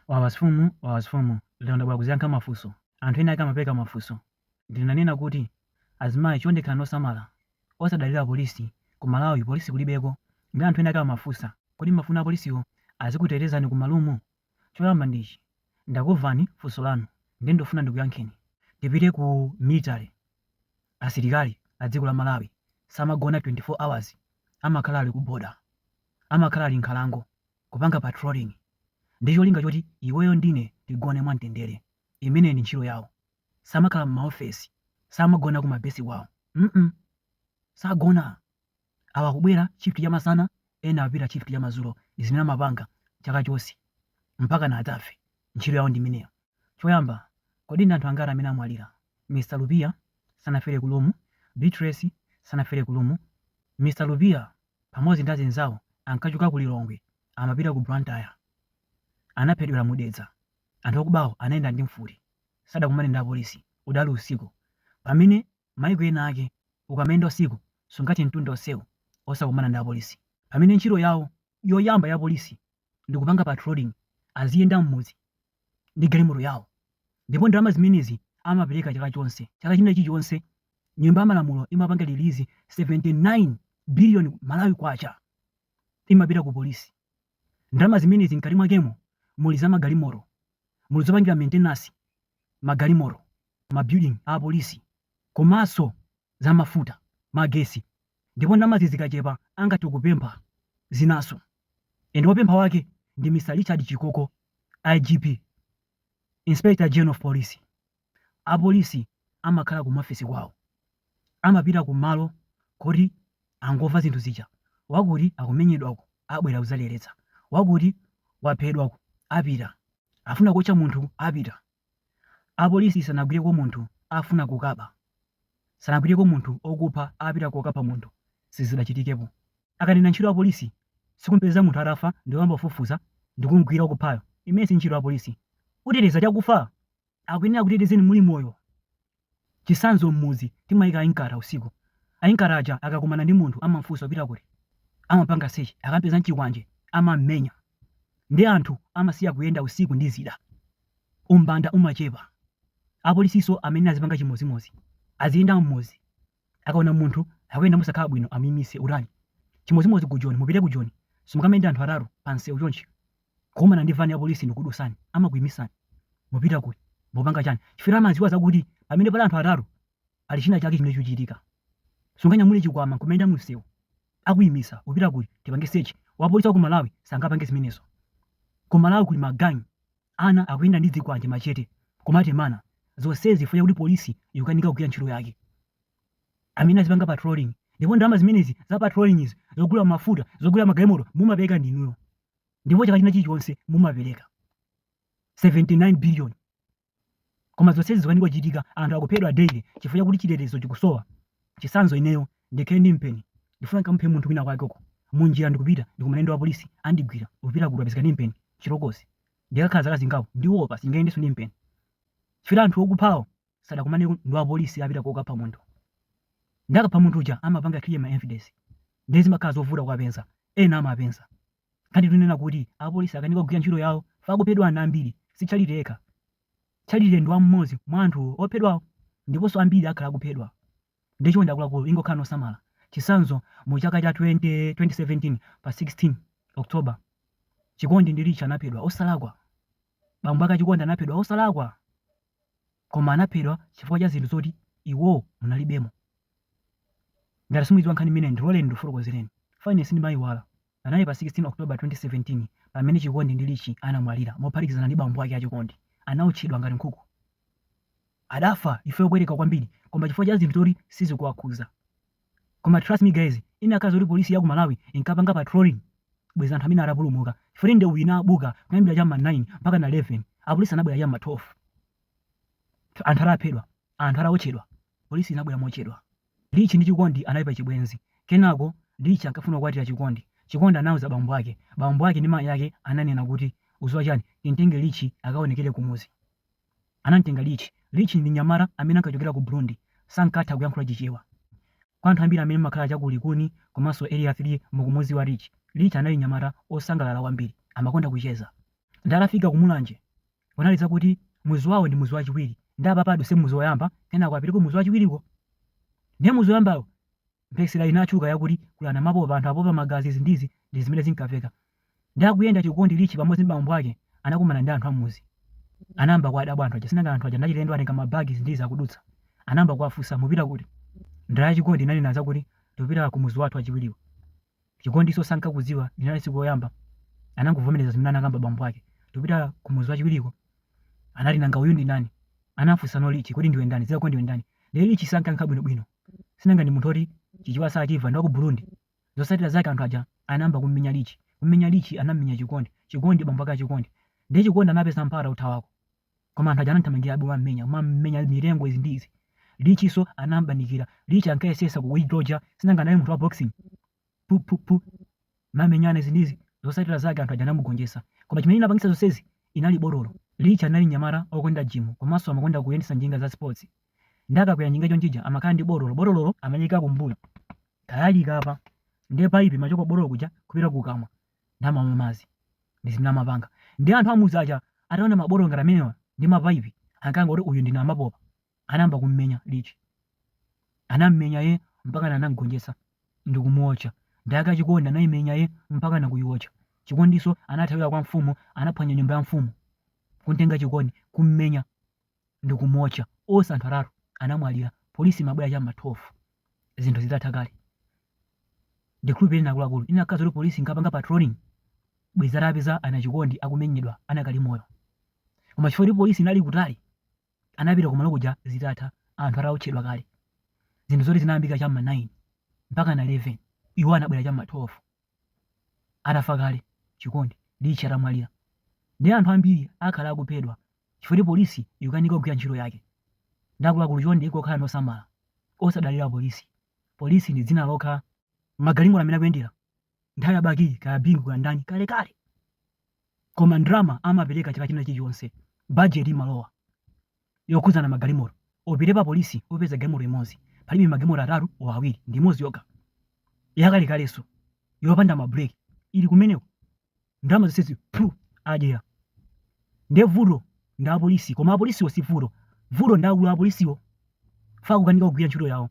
Wawa zimfumu, Wawa zimfumu, lero ndabwera kuzayankha mafunso. Anthu ena ake amapereka mafunso. Ndinanena kuti, Azimayi chonde khalani osamala. Osadalira apolisi. Ku Malawi polisi kulibeko. Ndiye anthu ena ake amafunsa, Kodi mmafuna apolisiwo azikutetezani ku marumu? Choyamba ndi ichi, ndakumvani funso lanu ndiye ndikufuna ndikuyankheni. Tipite ku military. Asilikali a dziko la Malawi samagona 24 hours. Amakhala ali ku border. Amakhala ali mnkhalango. kupanga patrolling ndi cholinga choti iweyo ndine tigone mwamtendere, imeneyo ndi ntchito yawo, samakhala mmaofesi, samagona ku ma base kwawo sagona, awa akubwera shift ya masana ena akupita shift ya madzulo ndi zimene amapanga chaka chonse mpaka adzafe, ntchito yawo ndi imeneyo. Choyamba, kodi ndi anthu angati amene amwalira? Mr Lupia sanafere ku room, Beatrice sanafere ku room, Mr Lupia. pamodzi ndi azinzawo ankachoka ku Lilongwe amapita ku Blantyre. Anaphedwera mu Dedza. Anthu akubawo anayenda ndi mfuti. Sadakumane ndi apolisi. Udali usiku. Pamene maiko ena ake ukamayenda usiku sungathe mtunda onsewu osakumana ndi apolisi. Pamene ntchito yawo yoyamba ya polisi ndikupanga patrolling aziyenda m'mudzi ndi galimoto yawo ndipo ndalama zimenezi amapereka chaka chonse chaka chinachilichonse nyumba ya malamulo imapanga release 79 billion malawi kwacha imapita ku polisi ndalama zimenezi mkati mwakemo muli za magalimoto muli zopangira maintenance magalimoto mabuilding a polisi komanso za mafuta, magesi ndipo ndalamazi zikachepa angathe kupempha zinanso and wopempha wake ndi Mr Richard Chikoko, IGP, Inspector General of Police. Apolisi amakhala kumafesi kwawo, amapita kumalo koti angomva zinthu zija, wakuti akumenyedwako abwera kudzaleretsa, wakuti waphedwako apita, afuna kuotcha munthu apita. Apolisi sanagwireko munthu afuna kukaba, sanagwireko munthu okupha apita kokapha munthu sizidachitikepo. Akanena ntchito ya polisi sikumpeza munthu atafa ndikuyamba kufufuza ndikumgwira okuphayo, imeneyi sintchito ya polisi. Uteteza chakufa? Akuyenera akutetezeni muli moyo Chitsanzo, M'mudzi timaika a Inkatha usiku. A Inkatha aja akakumana ndi munthu amam'funsa upita kuti? Amapanga sechi. Akam'peza n'chikwanje amam'menya. Ndiye anthu amasiya kuyenda usiku ndi zida. Umbanda umachepa. Apolisinso amayenera azipanga chimodzimodzi. Aziyenda m'mudzi. Akaona munthu akuyenda mosakhala bwino amuimitse. Utani? Chimodzimodzi ku Joni. Mupite ku Joni, simungamayende anthu atatu pamsewu chonchi. kukumana ndi vani ya polisi nikudutsani amakuimisani mupita kuti mupanga chani chifukwa amaziwa zakuti pamene pali anthu atatu pali china chake chimene chuchitika sunganyamule chikwama nkumayenda mumsewu akuimisa upita kuti tipange sechi wapolisi wa ku malawi sangapange zimenezo ku malawi kuli magangi ana akuyenda ndi zikwanje machete kumatemana zonsezi chifukwa choti polisi ikukanika kugwira ntchito yake amene azipanga patrolling ndipo ndalama zimenezi za patrolling izi zogula mafuta zogula magalimoto mumapereka ndinuyo ndipo chaka china chilichonse mumapereka 79 billion koma zonsezi zikukanika kuchitika anthu akuphedwa daily chifukwa chakuti chitetezo chikusowa chisanzo ineyo ndikhale ndi mpeni ndifuna ndikamuphe munthu wina kwake uko munjira ndikupita ndikumana ndi wapolisi andigwira upita kuti apezeka ndi mpeni chilokosi ndikakhala zaka zingapo ndiwopa sindingayendenso ndi mpeni chifukwa anthu okuphawo sadakumane ndi wapolisi apita kokapha munthu nde akapha munthu uja amapanga clear ma evidence ndiye zimakhala zovuta kuwapeza ena amawapeza ngati tinena kuti apolisi akanika kugwira ntchito yawo akuphedwa ana ambiri si Charity yekha Charity ndi m'modzi mwa anthu ophedwawo ndiponso ambiri akhala akuphedwa nde chonde akuluakulu ingokhala osamala chisanzo mu chaka cha 20, 2017 pa 16 October Chikondi ndi Rich anaphedwa osalakwa bambo ake a Chikondi anaphedwa osalakwa koma anaphedwa chifukwa cha zinthu zoti iwowo munalibemo. Ngati simuidziwa nkhani imeneyi ndiloleni ndikufotokozereni. Fine sindimaiwala. Panali pa 16 October 2017 pamene Chikondi ndi Richie anamwalira mophatikizana ndi bambo ake a Chikondi. Anaotchedwa ngati nkhuku. Adafa imfa yopweteka kwambiri koma chifukwa cha zinthu zoti sizikuwakhuza. Koma trust me guys, inakakhala zoti police ya ku Malawi inkapanga patrolling, bwezi anthu amene atapulumuka. Chifukwa ndeu inabuka kuyambira cha ma 9 mpaka na 11. Apolisi anabwera cha ma 12. Anthu ataphedwa, anthu ataotchedwa, polisi inabwera mochedwa. Rich ndi Chikondi anali pa chibwenzi. Kenako Rich ankafuna kukwatira Chikondi. Chikondi anauza bambo ake. Bambo ake ndi mayi ake ananena kuti, uziwa chani, timtenge Rich akaonekere kumuzi. Anamtenga Rich. Rich ndi mnyamata amene ankachokera ku Burundi. Sankatha kuyankhula Chichewa. Kwa anthu ambiri amene mumakhala cha ku Likuni komanso Area 3 mukumudziwa Rich. Rich anali mnyamata osangalala kwambiri. Amakonda kucheza. Nde atafika ku Mulanje, kunali zakuti mudzi wawo ndi mudzi wachiwiri. Nde apapa udutse mudzi oyamba kenako upite ku mudzi wachiwiriko. Nde mudzi oyambawo mphekesera inatchuka yakuti kuli anamapopa anthu apopa magazi izi ndi izi ndi zimene zinkaveka nde akuyenda chikondi Richie pamodzi ndi bambo ake anakumana ndi anthu ammudzi anayamba kuwadabwa anthu aja sinanga anthu aja ndachilendo atenga ma bag izi ndi izi akudutsa anayamba kuwafunsa mupita kuti ndala ya Chikondi inanena zakuti tikupita kumudzi wathu wachiwiriwo Chikondinso sankakudziwa linali tsiku loyamba anangovomereza zimene anakamba bambo ake tipita kumudzi wachiwiriko anati nanga uyu ndi ndani anafunsanso Rich kodi ndiwe ndani dzina lako ndiwe ndani ndiye Rich sankayankha bwinobwino sinanga ndi munthu oti Chichewa sachimva ndi waku Burundi zotsatira zake anthu aja anayamba kummenya Rich kummenya Rich anammenya Chikondi Chikondi bambo ake a Chikondi ndiye Chikondi anapeza mpata wothawako koma anthu aja anamthamangirabe kumammenya kumammenya mitengo izi ndi izi Richnso anampanikiza Rich ankayesetsa kuidoja sinanga naye munthu wa boxing pu pu pu kumenyana izi ndi izi zotsatira zake anthu aja anamugonjetsa koma chimene chinapangitsa zonsezi inali botolo Rich anali mnyamata okonda jimu komanso amakonda kuyendetsa njinga za sports nde akakwera njinga chonchija amakhala ndi botolo botololo amaliika kumbuyo talalika apa ndiye paipi imachoka ku botolo kuja kupita kukamwa n'kumamwa madzi ndi zimene amapanga nde anthu am'mudzi aja ataona mabotolo ngati amenewa ndi mapaipi ankaona kuti uyu ndi namapopa anayamba kummenya Rich anammenya ye mpaka anamgonjetsa ndi kumuotcha dadi ake a Chikondi anayimenya ye mpaka nakuyiotcha Chikondinso anathawira kwa mfumu anaphwanya nyumba ya mfumu kumtenga Chikondi kummenya ndikumuotcha onse anthu atatu anamwalira polisi imabwera cha ma 12 zinthu zitatha kale ndikhulupirira ine akuluakulu inakakhala kuti polisi inkapanga patrolling bwezi itapeza ana Chikondi akumenyedwa anakali moyo koma chifukwa kuti polisi inali kutali anapita kumalo kuja zitatha anthu ataotchedwa kale zinthu zoti zinayambika cha ma 9 mpakana 11 iwo anabwera cha ma 12 atafa kale Chikondi Rich atamwalira nde anthu ambiri akhala akuphedwa chifukwa polisi ikukanika kugwira ntchito yake nde akuluakulu chonde tikukhala mosamala osadalira polisi polisi ndi dzina lokha magalimoto amene akuyendera nthawi ya Bakili kaya Bingu kaya ndani kalekale koma ndrama amapereka chaka china chilichonse bajeti imalowa yokhudza magalimoto upite pa police upeza galimoto imodzi palibe magalimoto atatu o awiri ndi imodzi yokha yakalekalenso yopanda ma break ili kumeneko ndalama zonsezi phu adyera nde vuto ndi apolisi koma apolisiwo si vuto vuto ndi akulu apolisiwo akukanika kugwira ntchito yawo